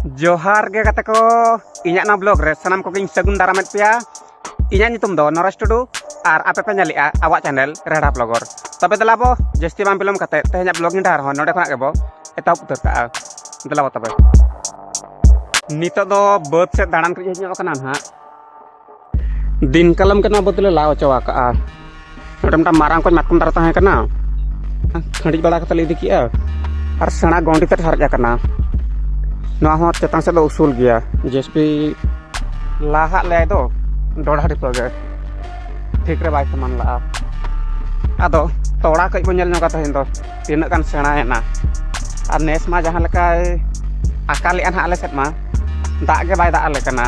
ᱡᱚᱦᱟᱨ ᱜᱮ ᱜᱟᱛᱮ ᱠᱚ ᱤᱧᱟᱹᱜ ᱱᱚᱣᱟ ᱵᱞᱚᱜ ᱨᱮ ᱥᱟᱱᱟᱢ ᱠᱚᱜᱮᱧ ᱥᱟᱹᱜᱩᱱ ᱫᱟᱨᱟᱢᱮᱫ ᱯᱮᱭᱟ ᱤᱧᱟᱹᱜ ᱧᱩᱛᱩᱢ ᱫᱚ ᱱᱚᱨᱮᱥ ᱴᱩᱰᱩ ᱟᱨ ᱟᱯᱮ ᱯᱮ ᱧᱮᱞᱮᱜᱼᱟ ᱟᱵᱚᱣᱟᱜ ᱪᱮᱱᱮᱞ ᱨᱮᱰᱟ ᱵᱞᱚᱜᱚᱨ ᱛᱚᱵᱮ ᱫᱮᱞᱟ ᱵᱚ ᱡᱟᱹᱥᱛᱤ ᱵᱟᱝ ᱵᱤᱞᱚᱢ ᱠᱟᱛᱮ ᱛᱮᱦᱮᱧᱟᱜ ᱵᱞᱚᱜ ᱤᱧ ᱰᱟᱦᱟᱨ ᱦᱚᱸ ᱱᱚᱰᱮ ᱠᱷᱚᱱᱟᱜ ᱜᱮᱵᱚ ᱮᱛᱚᱦᱚᱵ ᱩᱛᱟᱹᱨ ᱠᱟᱜᱼᱟ ᱫᱮᱞᱟ ᱵᱚ ᱛᱚᱵᱮ ᱱᱤᱛᱚᱜ ᱫᱚ ᱵᱟᱹᱫᱽ ᱥᱮᱫ ᱫᱟᱬᱟᱱ ᱠᱚ ᱦᱮᱡ ᱧᱚᱜ ᱠᱟᱱᱟ ᱱᱟᱦᱟᱜ ᱫᱤᱱ ᱠᱟᱞᱚᱢ ᱠᱟᱱᱟ ᱟᱵᱚ ᱫᱚᱞᱮ ᱞᱟ ᱦᱚᱪᱚ ᱟᱠᱟᱜᱼᱟ ᱱᱚᱰᱮ ᱢᱤᱫᱴᱟᱝ ᱢᱟᱨᱟᱝ ᱠᱚᱡ ᱢᱟᱛᱠᱚᱢ ᱫᱟᱨᱮ ᱛᱟᱦᱮᱸ ᱠᱟᱱᱟ ᱠᱷᱟᱺᱰᱤᱡ ᱵᱟᱲᱟ ᱠᱟᱛᱮ ᱞᱮ ᱤᱫᱤ ᱠᱮᱜᱼᱟ ᱟᱨ ᱥᱮᱬᱟ ᱜᱚᱸᱰᱤ ᱛᱮ ᱦᱟᱨᱡ ᱟᱠᱟᱱᱟ ᱱᱚᱣᱟ ᱦᱚᱸ ᱪᱮᱛᱟᱱ ᱥᱮᱫ ᱫᱚ ᱩᱥᱩᱞ ᱜᱮᱭᱟ ᱡᱮᱥᱯᱤ ᱞᱟᱦᱟᱜ ᱞᱮᱭᱟᱭ ᱫᱚ ᱰᱚᱰᱷᱟ ᱰᱷᱤᱯᱟᱹ ᱜᱮ ᱴᱷᱤᱠ ᱨᱮ ᱵᱟᱭ ᱥᱚᱢᱟᱱ ᱞᱟᱜᱼᱟ ᱟᱫᱚ ᱛᱚᱲᱟ ᱠᱟᱹᱡ ᱵᱚᱱ ᱧᱮᱞ ᱧᱚᱜᱟ ᱛᱮᱦᱮᱧ ᱫᱚ ᱛᱤᱱᱟᱹᱜ ᱜᱟᱱ ᱥᱮᱬᱟᱭᱮᱱᱟ ᱟᱨ ᱱᱮᱥ ᱢᱟ ᱡᱟᱦᱟᱸ ᱞᱮᱠᱟᱭ ᱟᱠᱟᱞᱮᱜᱼᱟ ᱱᱟᱦᱟᱜ ᱟᱞᱮ ᱥᱮᱫ ᱢᱟ ᱫᱟᱜ ᱜᱮ ᱵᱟᱭ ᱫᱟᱜ ᱟᱞᱮ ᱠᱟᱱᱟ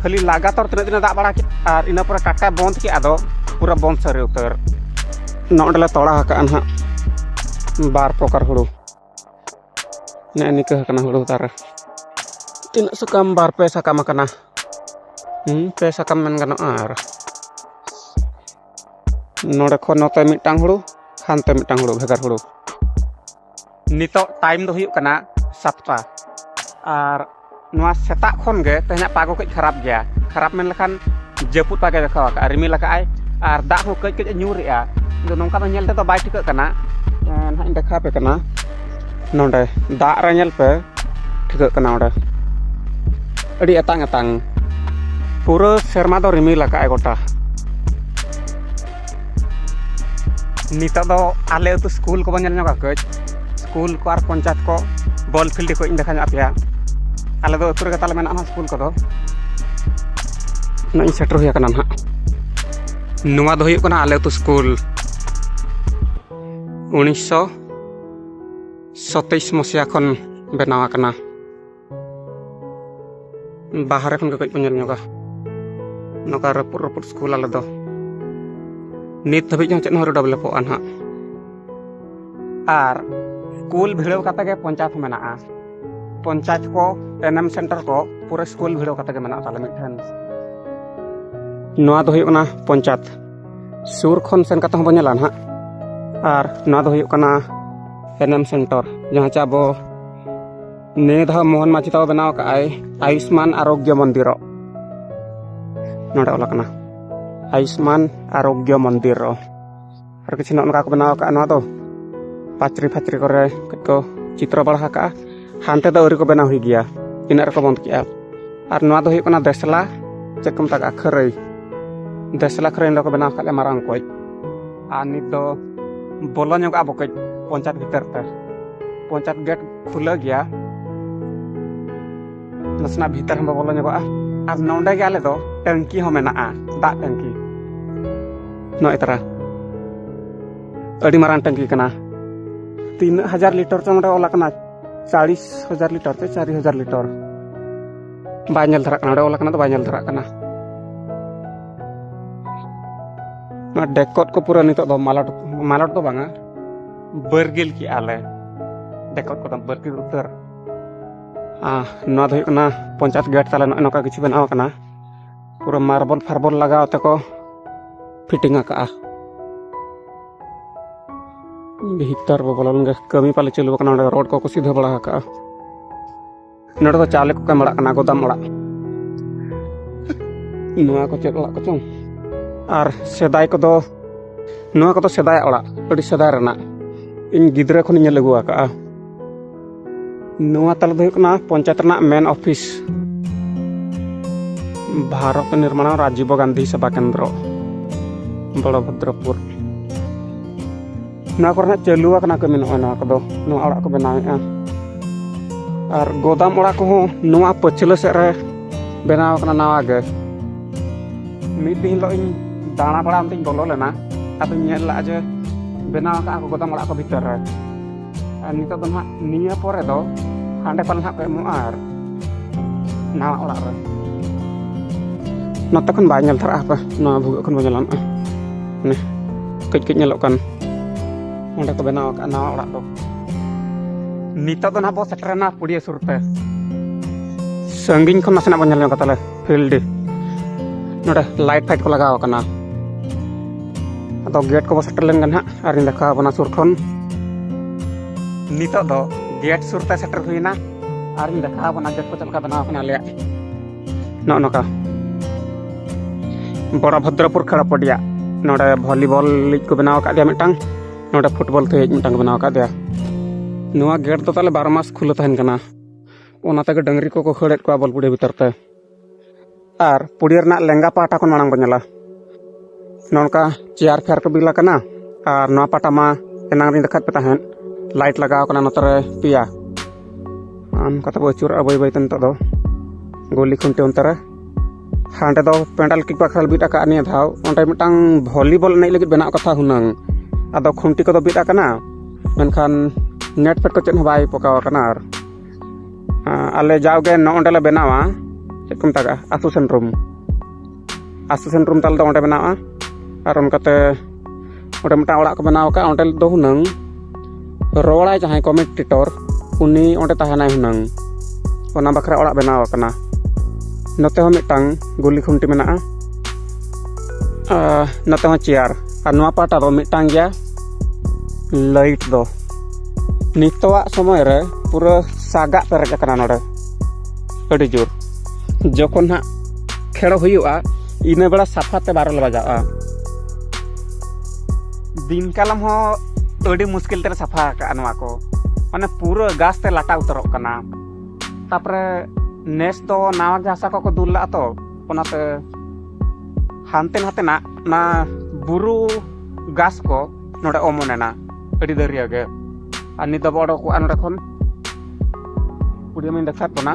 ᱠᱷᱟᱹᱞᱤ ᱞᱟᱜᱟᱛᱟᱨ ᱛᱤᱱᱟᱹᱜ ᱫᱤᱱᱮ ᱫᱟᱜ ᱵᱟᱲᱟ ᱠᱮᱫ ᱟᱨ ᱤᱱᱟᱹ ᱯᱚᱨᱮ ᱴᱟᱴᱠᱟᱭ ᱵᱚᱱᱫ ᱠᱮᱫ ᱟᱫᱚ ᱯᱩᱨᱟᱹ ᱵᱚᱱᱫ ᱥᱟᱹᱨᱤ ᱩᱛᱟᱹᱨ ᱱᱚᱸᱰᱮ ᱞᱮ ᱛᱚᱲᱟ ᱟᱠᱟᱫᱼᱟ ᱱᱟᱦᱟᱜ ᱵᱟᱨ ᱯᱨᱚᱠᱟᱨ ᱦᱩᱲᱩ ᱱᱮᱜᱼᱮ ᱱᱤᱠᱟᱹ ᱟᱠᱟᱱᱟ ᱦᱩᱲᱩ ᱫᱟᱨᱮ ᱛᱤᱱᱟᱹᱜ ᱥᱟᱠᱟᱢ ᱵᱟᱨ ᱯᱮ ᱥᱟᱠᱟᱢ ᱟᱠᱟᱱᱟ ᱯᱮ ᱥᱟᱠᱟᱢ ᱢᱮᱱ ᱜᱟᱱᱚᱜᱼᱟ ᱟᱨ ᱱᱚᱰᱮ ᱠᱷᱚᱱ ᱱᱚᱛᱮ ᱢᱤᱫᱴᱟᱝ ᱦᱩᱲᱩ ᱦᱟᱱᱛᱮ ᱢᱤᱫᱴᱟᱝ ᱦᱩᱲᱩ ᱵᱷᱮᱜᱟᱨ ᱦᱩᱲᱩ ᱱᱤᱛᱚᱜ ᱴᱟᱭᱤᱢ ᱫᱚ ᱦᱩᱭᱩᱜ ᱠᱟᱱᱟ ᱥᱟᱛᱴᱟ ᱟᱨ ᱱᱚᱣᱟ ᱥᱮᱛᱟᱜ ᱠᱷᱚᱱ ᱜᱮ ᱛᱮᱦᱮᱧᱟᱜ ᱯᱟᱜᱚ ᱠᱟᱹᱡ ᱠᱷᱟᱨᱟᱯ ᱜᱮᱭᱟ ᱠᱷᱟᱨᱟᱯ ᱢᱮᱱ ᱞᱮᱠᱷᱟᱱ ᱡᱟᱹᱯᱩᱫ ᱯᱟᱜᱮ ᱫᱮᱠᱷᱟᱣ ᱟᱠᱟᱫᱼᱟ ᱨᱤᱢᱤᱞ ᱟᱠᱟᱫᱼᱟᱭ ᱟᱨ ᱫᱟᱜ ᱦᱚᱸ ᱠᱟᱹᱡ ᱠᱟᱹᱡ ᱧᱩᱨᱮᱜᱼᱟ ᱟᱫᱚ ᱱᱚᱝᱠᱟ ᱫᱚ ᱧᱮᱞ ᱛᱮᱫᱚ ᱵᱟᱭ ᱴᱷᱤᱠᱟᱹᱜ ᱠᱟᱱᱟ ᱱᱟᱦᱟᱜ ᱤᱧ ᱫᱮᱠᱷᱟᱣ ᱟᱯᱮ ᱠᱟᱱᱟ ᱱᱚᱰᱮ ᱫᱟᱜ ᱨᱮ ᱧᱮᱞ ᱯᱮ ᱴᱷᱤᱠᱟᱹᱜ ᱠᱟᱱᱟ ᱚᱸᱰᱮ ᱟᱹᱰᱤ ᱟᱛᱟᱝ ᱟᱛᱟᱝ ᱯᱩᱨᱟᱹ ᱥᱮᱨᱢᱟ ᱫᱚ ᱨᱤᱢᱤᱞ ᱟᱠᱟᱫᱼᱟᱭ ᱜᱚᱴᱟ ᱱᱤᱛᱚᱜ ᱫᱚ ᱟᱞᱮ ᱟᱹᱛᱩ ᱥᱠᱩᱞ ᱠᱚᱵᱚᱱ ᱧᱮᱞ ᱧᱚᱜᱟ ᱠᱟᱹᱡ ᱥᱠᱩᱞ ᱠᱚ ᱟᱨ ᱯᱚᱧᱪᱟᱭᱮᱛ ᱠᱚ ᱵᱚᱞ ᱯᱷᱤᱞᱰ ᱠᱚ ᱤᱧ ᱫᱮᱠᱷᱟ ᱧᱚᱜ ᱟᱯᱮᱭᱟ ᱟᱞᱮ ᱫᱚ ᱟᱹᱛᱩ ᱨᱮᱜᱮ ᱛᱟᱞᱮ ᱢᱮᱱᱟᱜᱼᱟ ᱱᱟᱦᱟᱜ ᱥᱠᱩᱞ ᱠᱚᱫᱚ ᱱᱚᱜᱼᱚᱭ ᱥᱮᱴᱮᱨ ᱦᱩᱭ ᱟᱠᱟᱱᱟ ᱱᱟᱦᱟᱜ ᱱᱚᱣᱟ ᱫᱚ ᱦᱩᱭᱩᱜ ᱠᱟᱱᱟ ᱟᱞᱮ ᱟᱹᱛᱩ ᱥᱠᱩᱞ ᱩᱱᱤᱥᱥᱚ ᱥᱚᱛᱮᱭᱤᱥ ᱢᱚᱥᱤᱭᱟ ᱠᱷᱚᱱ ᱵᱮᱱᱟᱣ ᱟᱠᱟᱱᱟ ᱵᱟᱦᱨᱮ ᱠᱷᱚᱱ ᱜᱮ ᱠᱟᱹᱡ ᱠᱚ ᱧᱮᱞ ᱧᱚᱜᱟ ᱱᱚᱝᱠᱟ ᱨᱟᱹᱯᱩᱫ ᱨᱟᱹᱯᱩᱫ ᱥᱠᱩᱞ ᱟᱞᱮ ᱫᱚ ᱱᱤᱛ ᱫᱷᱟᱹᱵᱤᱡ ᱦᱚᱸ ᱪᱮᱫ ᱦᱚᱸ ᱟᱹᱣᱨᱤ ᱰᱮᱵᱷᱞᱚᱯᱚᱜᱼᱟ ᱱᱟᱦᱟᱜ ᱟᱨ ᱥᱠᱩᱞ ᱵᱷᱤᱲᱟᱹᱣ ᱠᱟᱛᱮ ᱜᱮ ᱯᱚᱧᱪᱟᱭᱮᱛ ᱢᱮᱱᱟᱜᱼᱟ ᱯᱚᱧᱪᱟᱭᱮᱛ ᱠᱚ ᱮᱱᱮᱢ ᱥᱮᱱᱴᱟᱨ ᱠᱚ ᱯᱩᱨᱟᱹ ᱥᱠᱩᱞ ᱵᱷᱤᱲᱟᱹᱣ ᱠᱟᱛᱮ ᱜᱮ ᱢᱮᱱᱟᱜ ᱛᱟᱞᱮ ᱢᱤᱫᱴᱷᱮᱱ ᱱᱚᱣᱟ ᱫᱚ ᱦᱩᱭᱩᱜ ᱠᱟᱱᱟ ᱯᱚᱧᱪᱟᱭᱮᱛ ᱥᱩᱨ ᱠᱷᱚᱱ ᱥᱮᱱ ᱠᱟᱛᱮ ᱦᱚᱸᱵᱚᱱ ᱧᱮᱞᱟ ᱱᱟᱦᱟᱜ ᱟᱨ ᱱᱚᱣᱟ ᱫᱚ ᱦᱩᱭᱩᱜ ᱠᱟᱱᱟ ᱮᱱᱮᱢ ᱥᱮᱱᱴᱟᱨ ᱡᱟᱦᱟᱸ ᱪᱮ ᱟᱵᱚ ᱱᱤᱭᱟᱹ ᱫᱷᱟᱣ ᱢᱳᱦᱚᱱ ᱢᱟᱹᱡᱷᱤ ᱛᱟᱠᱚ ᱵᱮᱱᱟᱣ ᱠᱟᱜ ᱟᱭ ᱟᱭᱩᱥᱢᱟᱱ ᱟᱨᱳᱜᱽᱭᱚ ᱢᱚᱱᱫᱤᱨᱚ ᱱᱚᱰᱮ ᱚᱞ ᱟᱠᱟᱱᱟ ᱟᱭᱩᱥᱢᱟᱱ ᱟᱨᱳᱜᱽᱭᱚ ᱢᱚᱱᱫᱤᱨᱚ ᱟᱨ ᱠᱤᱪᱷᱩ ᱱᱚᱜᱼᱚ ᱱᱚᱝᱠᱟ ᱠᱚ ᱵᱮᱱᱟᱣ ᱠᱟᱜᱼᱟ ᱱᱚᱣᱟ ᱫᱚ ᱯᱟᱪᱨᱤ ᱯᱷᱟᱪᱨᱤ ᱠᱚᱨᱮ ᱠᱟᱹᱡ ᱠᱚ ᱪᱤᱛᱨᱚ ᱵᱟᱲᱟ ᱟᱠᱟᱜᱼᱟ ᱦᱟᱱᱛᱮ ᱫᱚ ᱟᱹᱣᱨᱤ ᱠᱚ ᱵᱮᱱᱟᱣ ᱦᱩᱭ ᱜᱮᱭᱟ ᱤᱱᱟᱹᱜ ᱨᱮᱠᱚ ᱵᱚᱱᱫ ᱠᱮᱜᱼᱟ ᱟᱨ ᱱᱚᱣᱟ ᱫᱚ ᱦᱩᱭᱩᱜ ᱠᱟᱱᱟ ᱫᱮᱥᱞᱟ ᱪᱮᱫ ᱠᱚ ᱢᱮᱛᱟᱜᱼᱟ ᱠᱷᱟᱹᱨᱟᱹᱭ ᱫᱮᱥᱞᱟ ᱠᱷᱟᱹᱨᱟᱹᱭ ᱱᱚᱰᱮ ᱠᱚ ᱵᱮᱱᱟᱣ ᱠᱟᱜ ᱞᱮᱭᱟ ᱢᱟᱨᱟᱝ ᱠᱚᱡ ᱟᱨ ᱱᱤᱛ ᱫᱚ ᱵᱚᱞᱚ ᱧᱚᱜᱚᱜᱼᱟ ᱵᱚ ᱠᱟᱹᱡ ᱯᱚᱧᱪᱟᱭᱮᱛ ᱵᱷᱤᱛᱟᱹᱨ ᱛᱮ ᱯᱚᱧᱪᱟᱭᱮᱛ ᱜᱮᱴ ᱠᱷᱩᱞᱟᱹ ᱜᱮᱭᱟ ᱱᱟᱥᱮᱱᱟᱜ ᱵᱷᱤᱛᱟᱹᱨ ᱦᱚᱸ ᱵᱚᱞᱚ ᱧᱚᱜᱚᱜᱼᱟ ᱟᱨ ᱱᱚᱰᱮ ᱜᱮ ᱟᱞᱮ ᱫᱚ ᱴᱟᱹᱝᱠᱤ ᱦᱚᱸ ᱢᱮᱱᱟᱜᱼᱟ ᱫᱟᱜ ᱴᱟᱹᱝᱠᱤ ᱱᱚᱜᱼᱚᱭ ᱛᱟᱨᱟ ᱟᱹᱰᱤ ᱢᱟᱨᱟᱝ ᱴᱟᱹᱝᱠᱤ ᱠᱟᱱᱟ ᱛᱤᱱᱟᱹᱜ ᱦᱟᱡᱟᱨ ᱞᱤᱴᱚᱨ ᱪᱚ ᱱᱚᱰᱮ ᱚᱞ ᱟᱠᱟᱱᱟ ᱪᱟᱲᱤᱥ ᱦᱟᱡᱟᱨ ᱞᱤᱴᱚᱨ ᱪᱚ ᱪᱟᱨᱤ ᱦᱟᱡᱟᱨ ᱞᱤᱴᱚᱨ ᱵᱟᱭ ᱧᱮᱞ ᱫᱷᱟᱨᱟᱜ ᱠᱟᱱᱟ ᱱᱚᱰᱮ ᱚᱞ ᱟᱠᱟᱱᱟ ᱫᱚ ᱵᱟᱭ ᱧᱮᱞ ᱫᱷᱟᱨᱟᱜ ᱠᱟᱱᱟ ᱱᱚᱣᱟ ᱰᱮᱠᱚᱛ ᱠᱚ ᱯᱩᱨᱟᱹ ᱱᱤᱛᱚᱜ ᱫᱚ ᱢᱟᱞᱚᱴ ᱢᱟᱞᱚᱴ ᱫᱚ ᱵᱟᱝᱟ ᱵᱟᱹᱨᱜᱤᱞ ᱠᱮᱜᱼᱟ ᱞᱮ ᱫᱮᱠᱚᱛ ᱠᱚᱫᱚ ᱵᱟᱹᱨᱜᱤᱞ ᱩᱛᱟᱹᱨ ᱱᱚᱣᱟ ᱫᱚ ᱦᱩᱭᱩᱜ ᱠᱟᱱᱟ ᱯᱚᱧᱪᱟᱭᱮᱛ ᱜᱮᱴ ᱛᱟᱞᱮ ᱱᱚᱜᱼᱚᱭ ᱱᱚᱝᱠᱟ ᱠᱤᱪᱷᱩ ᱵᱮᱱᱟᱣ ᱟᱠᱟᱱᱟ ᱯᱩᱨᱟᱹ ᱢᱟᱨᱵᱚᱞ ᱯᱷᱟᱨᱵᱚᱞ ᱞᱟᱜᱟᱣ ᱛᱮᱠᱚ ᱯᱷᱤᱴᱤᱝ ᱟᱠᱟᱜᱼᱟ ᱵᱷᱤᱛᱟᱨ ᱵᱚ ᱵᱚᱞᱚ ᱞᱮᱱᱜᱮ ᱠᱟᱹᱢᱤ ᱯᱟᱞᱮ ᱪᱟᱹᱞᱩ ᱟᱠᱟᱱᱟ ᱚᱸᱰᱮ ᱨᱳᱰ ᱠᱚᱠᱚ ᱥᱤᱫᱷᱟᱹ ᱵᱟᱲᱟ ᱟᱠᱟᱜᱼᱟ ᱱᱚᱰᱮ ᱫᱚ ᱪᱟᱣᱞᱮ ᱠᱚ ᱠᱟᱢ ᱚᱲᱟᱜ ᱠᱟᱱᱟ ᱜᱚᱫᱟᱢ ᱚᱲᱟᱜ ᱱᱚᱣᱟ ᱠᱚ ᱪᱮᱫ ᱚᱲᱟᱜ ᱠᱚᱪᱚᱝ ᱟᱨ ᱥᱮᱫᱟᱭ ᱠᱚᱫᱚ ᱱᱚᱣᱟ ᱠᱚᱫᱚ ᱥᱮᱫᱟᱭ ᱚᱲᱟᱜ ᱟᱹᱰᱤ ᱥᱮᱫᱟᱭ ᱨᱮᱱᱟᱜ ᱤᱧ ᱜᱤᱫᱽᱨᱟᱹ ᱠᱷᱚᱱᱤᱧ ᱧᱮᱞ ᱟᱹᱜᱩ ᱟᱠᱟᱜᱼᱟ ᱱᱚᱣᱟ ᱛᱟᱞᱮ ᱫᱚ ᱦᱩᱭᱩᱜ ᱠᱟᱱᱟ ᱯᱚᱧᱪᱟᱭᱮᱛ ᱨᱮᱱᱟᱜ ᱢᱮᱱ ᱚᱯᱷᱤᱥ ᱵᱷᱟᱨᱚᱛ ᱱᱤᱨᱢᱟᱬ ᱨᱟᱡᱤᱵ ᱜᱟᱱᱫᱷᱤ ᱥᱮᱵᱟ ᱠᱮᱱᱫᱨᱚ ᱵᱚᱲᱚᱵᱷᱚᱫᱨᱚᱯᱩᱨ ᱱᱚᱣᱟ ᱠᱚᱨᱮ ᱦᱟᱸᱜ ᱪᱟᱹᱞᱩ ᱟᱠᱟᱱᱟ ᱠᱟᱹᱢᱤ ᱱᱚᱜᱼᱚᱭ ᱱᱚᱣᱟ ᱠᱚᱫᱚ ᱱᱚᱣᱟ ᱚᱲᱟᱜ ᱠᱚ ᱵᱮᱱᱟᱣᱮᱫᱼᱟ ᱟᱨ ᱜᱚᱫᱟᱢ ᱚᱲᱟᱜ ᱠᱚᱦᱚᱸ ᱱᱚᱣᱟ ᱯᱟᱹᱪᱷᱞᱟᱹ ᱥᱮᱫ ᱨᱮ ᱵᱮᱱᱟᱣ ᱟᱠᱟᱱᱟ ᱱᱟᱣᱟ ᱜᱮ ᱢᱤᱫ ᱫᱤᱱ ᱦᱤᱞᱳᱜ ᱤᱧ ᱫᱟᱬᱟ ᱵᱟᱲᱟ ᱚᱱᱛᱮᱧ ᱵᱚᱞᱚ ᱞᱮᱱᱟ ᱟᱫᱚᱧ ᱧᱮᱞ ᱞᱟᱜᱼᱟ ᱡᱮ ᱵᱮᱱᱟᱣ ᱟᱠᱟᱫᱼᱟ ᱠᱚ ᱜᱚᱫᱟᱢ ᱚᱲᱟᱜ ᱠᱚ ᱵᱷᱤᱛᱟᱹᱨ ᱨᱮ ᱟᱨ ᱱᱤᱛᱚᱜ ᱫᱚ ᱱᱟᱦᱟᱜ ᱱᱤᱭᱟᱹ ᱯᱚᱨᱮ ᱫᱚ ᱦᱟᱸᱰᱮ ᱯᱟᱞᱮ ᱱᱟᱦᱟᱜ ᱠᱚ ᱮᱢᱚᱜᱼᱟ ᱟᱨ ᱱᱟᱣᱟ ᱚᱲᱟᱜ ᱨᱮ ᱱᱚᱛᱮ ᱠᱷᱚᱱ ᱵᱟᱭ ᱧᱮᱞ ᱫᱷᱟᱨᱟᱜᱼᱟ ᱦᱟᱯᱮ ᱱᱚᱣᱟ ᱵᱷᱩᱜᱟᱹᱜ ᱠᱷᱚᱱ ᱵᱚᱱ ᱧᱮᱞᱟ ᱱᱚᱜᱼᱚᱭ ᱠᱟᱹᱡ ᱠᱟᱹᱡ ᱧᱮᱞᱚᱜ ᱠᱟᱱ ᱚᱸᱰᱮ ᱠᱚ ᱵᱮᱱᱟᱣ ᱟᱠᱟᱫ ᱱᱟᱣᱟ ᱚᱲᱟᱜ ᱫᱚ ᱱᱤᱛᱚᱜ ᱫᱚ ᱱᱟᱦᱟᱜ ᱵᱚ ᱥᱮᱴᱮᱨᱮᱱᱟ ᱯᱩᱲᱤᱭᱟᱹ ᱥᱩᱨ ᱛᱮ ᱥᱟᱺᱜᱤᱧ ᱠᱷᱚᱱ ᱱᱟᱥᱮᱱᱟᱜ ᱵᱚᱱ ᱧᱮᱞ ᱧᱚᱜᱟ ᱛᱟᱦᱚᱞᱮ ᱯᱷᱤᱞᱰ ᱱᱚᱰᱮ ᱞᱟᱭᱤᱴ ᱯᱷᱟᱭᱤᱴ ᱠᱚ ᱞᱟᱜᱟᱣ ᱟᱠᱟᱱᱟ ᱟᱫᱚ ᱜᱮᱴ ᱠᱚᱵᱚ ᱥᱮᱴᱮᱨ ᱞᱮᱱ ᱜᱮ ᱱᱟᱦᱟᱜ ᱟᱨᱤᱧ ᱫᱮᱠᱷᱟᱣ ᱟᱵᱚᱱᱟ ᱥᱩᱨ ᱠᱷᱚᱱ ᱱᱤᱛᱚᱜ ᱫᱚ ᱜᱮᱴ ᱥᱩᱨ ᱛᱮ ᱥᱮᱴᱮᱨ ᱦᱩᱭᱱᱟ ᱟᱨᱤᱧ ᱫᱮᱠᱷᱟᱣ ᱟᱵᱚᱱᱟ ᱜᱮᱴ ᱠᱚ ᱪᱮᱫ ᱞᱮᱠᱟ ᱵᱮᱱᱟᱣ ᱟᱠᱟᱱᱟ ᱟᱞᱮᱭᱟᱜ ᱱᱚᱜᱼᱚ ᱱᱚᱝᱠᱟ ᱵᱚᱲᱟᱵᱷᱚᱫᱨᱚᱯᱩᱨ ᱠᱷᱟᱲᱟᱯᱚᱰᱤᱭᱟ ᱱᱚᱰᱮ ᱵᱷᱚᱞᱤᱵᱚᱞ ᱞᱤᱜᱽ ᱠᱚ ᱵᱮᱱᱟᱣ ᱟᱠᱟᱫ ᱜᱮᱭᱟ ᱢᱤᱫᱴᱟᱝ ᱱᱚᱰᱮ ᱯᱷᱩᱴᱵᱚᱞ ᱛᱮ ᱢᱤᱫᱴᱟᱝ ᱠᱚ ᱵᱮᱱᱟᱣ ᱟᱠᱟᱫ ᱜᱮᱭᱟ ᱱᱚᱣᱟ ᱜᱮᱴ ᱫᱚ ᱛᱟᱦᱚᱞᱮ ᱵᱟᱨᱚ ᱢᱟᱥ ᱠᱷᱩᱞᱟᱹ ᱛᱟᱦᱮᱱ ᱠᱟᱱᱟ ᱚᱱᱟ ᱛᱮᱜᱮ ᱰᱟᱹᱝᱨᱤ ᱠᱚᱠᱚ ᱠᱷᱟᱹᱲᱮᱫ ᱠᱚᱣᱟ ᱵᱚᱞᱯᱩᱲᱤ ᱵᱷᱤᱛᱟᱹᱨ ᱛᱮ ᱟᱨ ᱯᱩᱲᱤᱭᱟᱹ ᱨᱮᱱᱟᱜ ᱞᱮᱸᱜᱟ ᱯᱟᱦᱴᱟ ᱠᱷᱚᱱ ᱢᱟᱲᱟᱝ ᱵᱚᱱ ᱧᱮᱞᱟ ᱱᱚᱝᱠᱟ ᱪᱮᱭᱟᱨ ᱯᱷᱮᱭᱟᱨ ᱠᱚ ᱵᱤᱞ ᱟᱠᱟᱱᱟ ᱟᱨ ᱱᱚᱣᱟ ᱯᱟᱴᱟ ᱢᱟ ᱮᱱᱟᱝ ᱨᱤᱧ ᱫᱮᱠᱷᱟᱣᱮᱫ ᱯᱮ ᱛᱟᱦᱮᱸᱫ ᱞᱟᱭᱤᱴ ᱞᱟᱜᱟᱣ ᱠᱟᱱᱟ ᱱᱚᱛᱮ ᱨᱮ ᱯᱮᱭᱟ ᱟᱢ ᱠᱟᱛᱮ ᱵᱚ ᱟᱹᱪᱩᱨᱚᱜᱼᱟ ᱵᱟᱹᱭ ᱵᱟᱹᱭᱛᱮ ᱱᱤᱛᱚᱜ ᱫᱚ ᱜᱩᱞᱤ ᱠᱷᱩᱱᱴᱤ ᱚᱱᱛᱮ ᱨᱮ ᱦᱟᱸᱰᱮ ᱫᱚ ᱯᱮᱱᱰᱟᱞ ᱠᱤᱠ ᱵᱟᱠᱷᱨᱟ ᱵᱤᱫ ᱟᱠᱟᱫ ᱱᱤᱭᱟᱹ ᱫᱷᱟᱣ ᱚᱸᱰᱮ ᱢᱤᱫᱴᱟᱝ ᱵᱷᱚᱞᱤᱵᱚᱞ ᱮᱱᱮᱡ ᱞᱟᱹᱜᱤᱫ ᱵᱮᱱᱟᱜ ᱠᱟᱛᱷᱟ ᱦᱩᱱᱟᱹᱝ ᱟᱫᱚ ᱠᱷᱩᱱᱴᱤ ᱠᱚᱫᱚ ᱵᱤᱫ ᱟᱠᱟᱱᱟ ᱢᱮᱱᱠᱷᱟᱱ ᱱᱮᱴ ᱯᱷᱮᱴ ᱠᱚ ᱪᱮᱫ ᱦᱚᱸ ᱵᱟᱭ ᱯᱚᱠᱟᱣ ᱟᱠᱟᱱᱟ ᱟᱨ ᱟᱞᱮ ᱡᱟᱣᱜᱮ ᱱᱚᱜᱼᱚᱸᱰᱮ ᱞᱮ ᱵᱮᱱᱟᱣᱟ ᱪᱮᱫ ᱠᱚ ᱢᱮᱛᱟᱜᱟᱜᱼᱟ ᱟᱛᱳ ᱥᱮᱱ ᱨᱩᱢ ᱟᱥᱤᱥᱮᱱ ᱨᱩᱢ ᱛᱟᱞᱮ ᱫᱚ ᱚᱸᱰᱮ ᱢᱮᱱᱟᱜᱼᱟ ᱟᱨ ᱚᱱᱠᱟᱛᱮ ᱚᱸᱰᱮ ᱢᱤᱫᱴᱟᱝ ᱚᱲᱟᱜ ᱠᱚ ᱵᱮᱱᱟᱣ ᱟᱠᱟᱫ ᱚᱸᱰᱮ ᱫᱚ ᱦᱩᱱᱟᱹᱝ ᱨᱚᱲᱟᱭ ᱡᱟᱦᱟᱸᱭ ᱠᱚᱢᱮᱱᱴᱮᱴᱚᱨ ᱩᱱᱤ ᱚᱸᱰᱮ ᱛᱟᱦᱮᱱᱟᱭ ᱦᱩᱱᱟᱹᱝ ᱚᱱᱟ ᱵᱟᱠᱷᱨᱟ ᱚᱲᱟᱜ ᱵᱮᱱᱟᱣ ᱟᱠᱟᱱᱟ ᱱᱚᱛᱮ ᱦᱚᱸ ᱢᱤᱫᱴᱟᱝ ᱜᱩᱞᱤ ᱠᱷᱩᱱᱴᱤ ᱢᱮᱱᱟᱜᱼᱟ ᱱᱚᱛᱮ ᱦᱚᱸ ᱪᱮᱭᱟᱨ ᱟᱨ ᱱᱚᱣᱟ ᱯᱟᱦᱴᱟ ᱫᱚ ᱢᱤᱫᱴᱟᱝ ᱜᱮᱭᱟ ᱞᱟᱭᱤᱴ ᱫᱚ ᱱᱤᱛᱚᱜᱟᱜ ᱥᱚᱢᱚᱭ ᱨᱮ ᱯᱩᱨᱟᱹ ᱥᱟᱜᱟᱜ ᱯᱮᱨᱮᱡ ᱟᱠᱟᱱᱟ ᱱᱚᱰᱮ ᱟᱹᱰᱤ ᱡᱳᱨ ᱡᱚᱠᱷᱚᱱ ᱦᱟᱸᱜ ᱠᱷᱮᱲ ᱦᱩᱭᱩᱜᱼᱟ ᱤᱱᱟᱹ ᱵᱮᱲᱟ ᱥᱟᱯᱷᱟᱛᱮ ᱵᱟᱨᱚ ᱞᱮ ᱵᱟᱡᱟᱜᱼᱟ ᱫᱤᱱ ᱠᱟᱞᱚᱢ ᱦᱚᱸ ᱟᱹᱰᱤ ᱢᱩᱥᱠᱤᱞ ᱛᱮᱞᱮ ᱥᱟᱯᱷᱟ ᱟᱠᱟᱫᱼᱟ ᱱᱚᱣᱟ ᱠᱚ ᱢᱟᱱᱮ ᱯᱩᱨᱟᱹ ᱜᱟᱥ ᱛᱮ ᱞᱟᱴᱟ ᱩᱛᱟᱹᱨᱚᱜ ᱠᱟᱱᱟ ᱛᱟᱯᱚᱨᱮ ᱱᱮᱥ ᱫᱚ ᱱᱟᱣᱟ ᱜᱮ ᱦᱟᱥᱟ ᱠᱚᱠᱚ ᱫᱩᱞ ᱞᱟᱜᱼᱟ ᱛᱚ ᱚᱱᱟᱛᱮ ᱦᱟᱱᱛᱮ ᱱᱟᱛᱮᱱᱟᱜ ᱚᱱᱟ ᱵᱩᱨᱩ ᱜᱟᱥ ᱠᱚ ᱱᱚᱰᱮ ᱚᱢᱚᱱᱮᱱᱟ ᱟᱹᱰᱤ ᱫᱟᱹᱨᱭᱟᱹ ᱜᱮ ᱟᱨ ᱱᱤᱛ ᱫᱚᱵᱚ ᱚᱰᱚᱠᱚᱜᱼᱟ ᱱᱚᱰᱮ ᱠᱷᱚᱱ ᱯᱩᱲᱤᱭᱟᱹ ᱢᱟᱹᱧ ᱫᱮᱠᱷᱟᱣᱮᱫ ᱵᱚᱱᱟ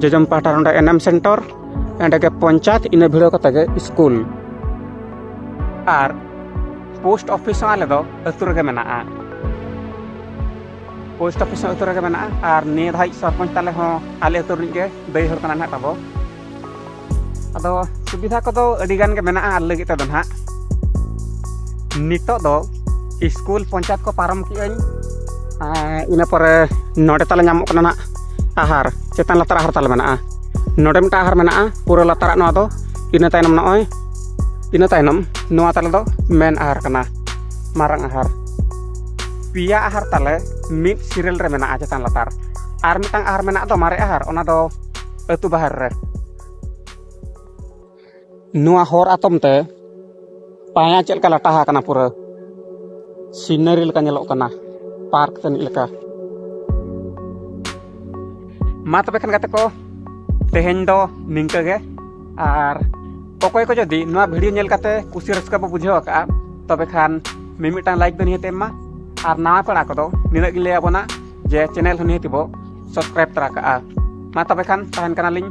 ᱡᱚᱡᱚᱢ ᱯᱟᱦᱴᱟ ᱱᱚᱰᱮ ᱮᱱᱮᱢ ᱥᱮᱱᱴᱚᱨ ᱮᱸᱰᱮ ᱜᱮ ᱯᱚᱧᱪᱟᱭᱮᱛ ᱤᱱᱟᱹ ᱵᱷᱤᱲᱟᱹᱣ ᱠᱟᱛᱮ ᱜᱮ ᱥᱠᱩᱞ ᱟᱨ ᱯᱳᱥᱴ ᱚᱯᱷᱤᱥ ᱦᱚᱸ ᱟᱞᱮ ᱫᱚ ᱟᱹᱛᱩ ᱨᱮᱜᱮ ᱢᱮᱱᱟᱜᱼᱟ ᱯᱳᱥᱴ ᱚᱯᱷᱤᱥ ᱦᱚᱸ ᱟᱹᱛᱩ ᱨᱮᱜᱮ ᱢᱮᱱᱟᱜᱼᱟ ᱟᱨ ᱱᱤᱭᱟᱹ ᱫᱷᱟᱣᱤᱡ ᱥᱚᱨᱯᱚᱧᱪ ᱛᱟᱞᱮ ᱦᱚᱸ ᱟᱞᱮ ᱟᱹᱛᱩ ᱨᱤᱱᱤᱡ ᱜᱮ ᱫᱟᱹᱭ ᱦᱚᱲ ᱠᱟᱱᱟᱭ ᱱᱟᱦᱟᱜ ᱛᱟᱵᱚ ᱟᱫᱚ ᱥᱩᱵᱤᱫᱷᱟ ᱠᱚᱫᱚ ᱟᱹᱰᱤ ᱜᱟᱱ ᱜᱮ ᱢᱮᱱᱟᱜᱼᱟ ᱟᱞᱮ ᱞᱟᱹᱜᱤᱫ ᱛᱮᱫᱚ ᱱᱟᱦᱟᱜ ᱱᱤᱛᱚᱜ ᱫᱚ ᱥᱠᱩᱞ ᱯᱚᱧᱪᱟᱭᱮᱛ ᱠᱚ ᱯᱟᱨᱚᱢ ᱠᱮᱜᱼᱟᱹᱧ ᱤᱱᱟᱹ ᱯᱚᱨᱮ ᱱᱚᱰᱮ ᱛᱟᱞᱮ ᱧᱟᱢᱚᱜ ᱠᱟᱱᱟ ᱱᱟᱦᱟᱜ ᱟᱦᱟᱨ ᱪᱮᱛᱟᱱ ᱞᱟᱛᱟᱨ ᱟᱦᱟᱨ ᱛᱟᱞᱮ ᱢᱮᱱᱟᱜᱼᱟ ᱱᱚᱰᱮ ᱢᱤᱫᱴᱟᱝ ᱟᱦᱟᱨ ᱢᱮᱱᱟᱜᱼᱟ ᱯᱩᱨᱟᱹ ᱞᱟᱛᱟᱨᱟᱜ ᱱᱚᱣᱟ ᱫᱚ ᱤᱱᱟᱹ ᱛᱟᱭᱱᱚᱢ ᱱᱚᱜᱼᱚᱭ ᱤᱱᱟᱹ ᱛᱟᱭᱱᱚᱢ ᱱᱚᱣᱟ ᱛᱟᱞᱮ ᱫᱚ ᱢᱮᱱ ᱟᱦᱟᱨ ᱠᱟᱱᱟ ᱢᱟᱨᱟᱝ ᱟᱦᱟᱨ ᱯᱮᱭᱟ ᱟᱦᱟᱨ ᱛᱟᱞᱮ ᱢᱤᱫ ᱥᱤᱨᱮᱞ ᱨᱮ ᱢᱮᱱᱟᱜᱼᱟ ᱪᱮᱛᱟᱱ ᱞᱟᱛᱟᱨ ᱟᱨ ᱢᱤᱫᱴᱟᱝ ᱟᱦᱟᱨ ᱢᱮᱱᱟᱜ ᱫᱚ ᱢᱟᱨᱮ ᱟᱦᱟᱨ ᱚᱱᱟ ᱫᱚ ᱟᱹᱛᱩ ᱵᱟᱦᱮᱨ ᱨᱮ ᱱᱚᱣᱟ ᱦᱚᱨ ᱟᱛᱚᱢ ᱛᱮ ᱯᱟᱭᱟ ᱪᱮᱫ ᱞᱮᱠᱟ ᱞᱟᱴᱟ ᱟᱠᱟᱱᱟ ᱯᱩᱨᱟᱹ ᱥᱤᱱᱟᱨᱤ ᱞᱮᱠᱟ ᱧᱮᱞᱚᱜ ᱠᱟᱱᱟ ᱯᱟᱨᱠ ᱛᱟᱹᱱᱤᱡ ᱞᱮᱠᱟ ᱢᱟ ᱛᱚᱵᱮ ᱠᱷᱟᱱ ᱜᱟᱛᱮ ᱠᱚ ᱛᱮᱦᱮᱧ ᱫᱚ ᱱᱤᱝᱠᱟᱹ ᱜᱮ ᱟᱨ ᱚᱠᱚᱭ ᱠᱚ ᱡᱩᱫᱤ ᱱᱚᱣᱟ ᱵᱷᱤᱰᱤᱭᱳ ᱧᱮᱞ ᱠᱟᱛᱮ ᱠᱩᱥᱤ ᱨᱟᱹᱥᱠᱟᱹ ᱵᱚ ᱵᱩᱡᱷᱟᱹᱣ ᱟᱠᱟᱫᱼᱟ ᱛᱚᱵᱮ ᱠᱷᱟᱱ ᱢᱤᱢᱤᱫᱴᱟᱝ ᱞᱟᱭᱤᱠ ᱫᱚ ᱱᱤᱦᱟᱹᱛ ᱮᱢ ᱢᱟ ᱟᱨ ᱱᱟᱣᱟ ᱯᱮᱲᱟ ᱠᱚᱫᱚ ᱱᱤᱱᱟᱹᱜ ᱜᱮ ᱞᱟᱹᱭ ᱟᱵᱚᱱᱟ ᱡᱮ ᱪᱮᱱᱮᱞ ᱦᱚᱸ ᱱᱤᱦᱟᱹᱛᱤ ᱵᱚ ᱥᱟᱵᱥᱠᱨᱟᱭᱤᱵ ᱛᱟᱨᱟ ᱠᱟᱜᱼᱟ ᱢᱟ ᱛᱚᱵᱮ ᱠᱷᱟᱱ ᱛᱟᱦᱮᱱ ᱠᱟᱱᱟᱞᱤᱧ